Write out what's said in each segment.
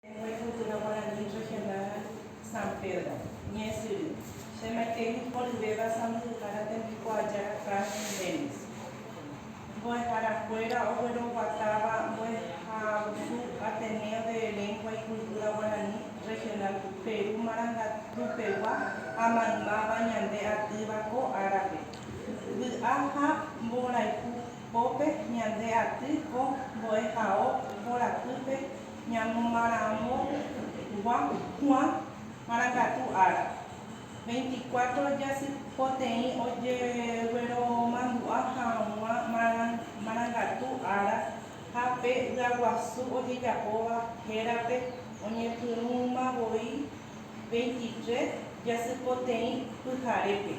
Egue cultura guarani regional San Pedro, ñe'ẽsyry. Che maitei iporyvéva sãmbyhyhára tembiko aja Franklin Dennis. Mbo'eharakuéra ogueroguatáva mbo'ehaogusu Ateneo de Lengua y Cultura Guarani Regional Peru marangatupegua ha maymáva ñande atýva ko árape. Vy'a ha mborayhu pópe ñande aty ko mbo'ehao mborapýpe Ñamomarãmogua Juan marangatu ára, veinticuatro jasy poteĩ ojegueromandu'a hag̃ua marangatu ára ha pe ya'aguasu ojejapóva hérape oñepyrũma voi veintitrés jasy poteĩ pyharépe.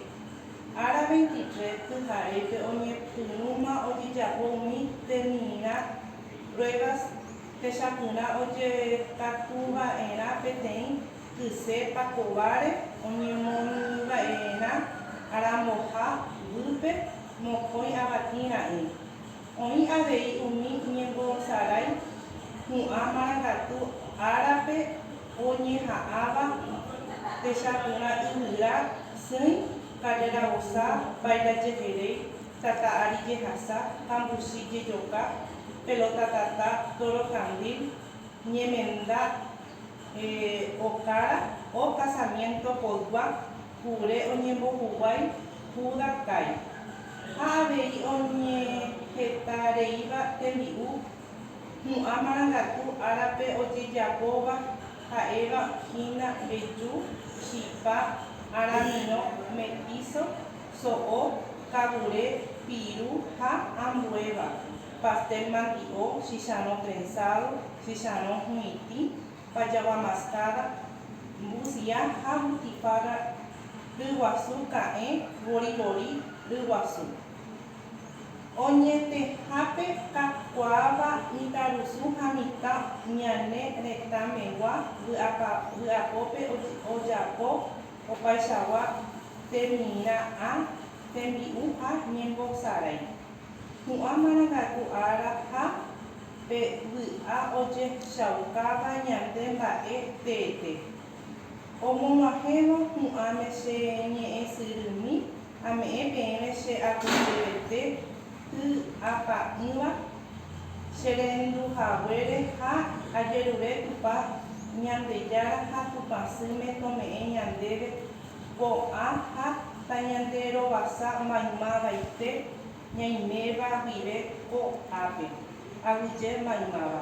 Ára veintitrés pyharépe oñepyrũma ojejapo umi temirã pruebas Techapyrã ojetakuva'erã peteĩ kyse pakováre oñemoirũva'erã aramboha guýpe mokõi avati ra'ỹ. Oĩ avei umi ñembosarái hu'ã marangatu árape oñeha'ãva techapyrã yvyra sỹi karrera vosa vairajeheréi. tata ári jehasa, tambusi jejoka, pelota tata, tóro kandil, ñemenda okára, o kasamiénto poygua, kure oñembohuguái Júda kái, ha avei oñehetareíva tembi'u hu'ã marangatu árape ojejapóva ha'éva hína mbeju, chipa, aramirõ, metíso, so'o, kavure, piru ha ambuéva, pastel mandi'o, chicharrõ trenzado, chicharrõ hu'itĩ, pajagua mascada, mbusía ha butifarra ryguasu ka'ẽ vorivori ryguasu. Oñetẽhápe kakuaáva mitãrusu ha mitã ñane retãmegua vy'apópe ojapo Opaichagua temirã ã tembi'u ha ñembosarái. Hu'ã marangatu ára ha pe vy'a ojehchaukáva ñande mba'e teete. Omog̃uahẽvo hu'ãme che ñe'ẽsyrými Ame'ẽ peẽme che apoteivete y apa'ỹva che rendu haguére ha ajerure Tupã Ñandejára ha Tupã Sýme tome'ẽ ñandéve ko'ã ha tañande rovasa maymavaite ñaiméva guive ko ápe, aguyje maymáva.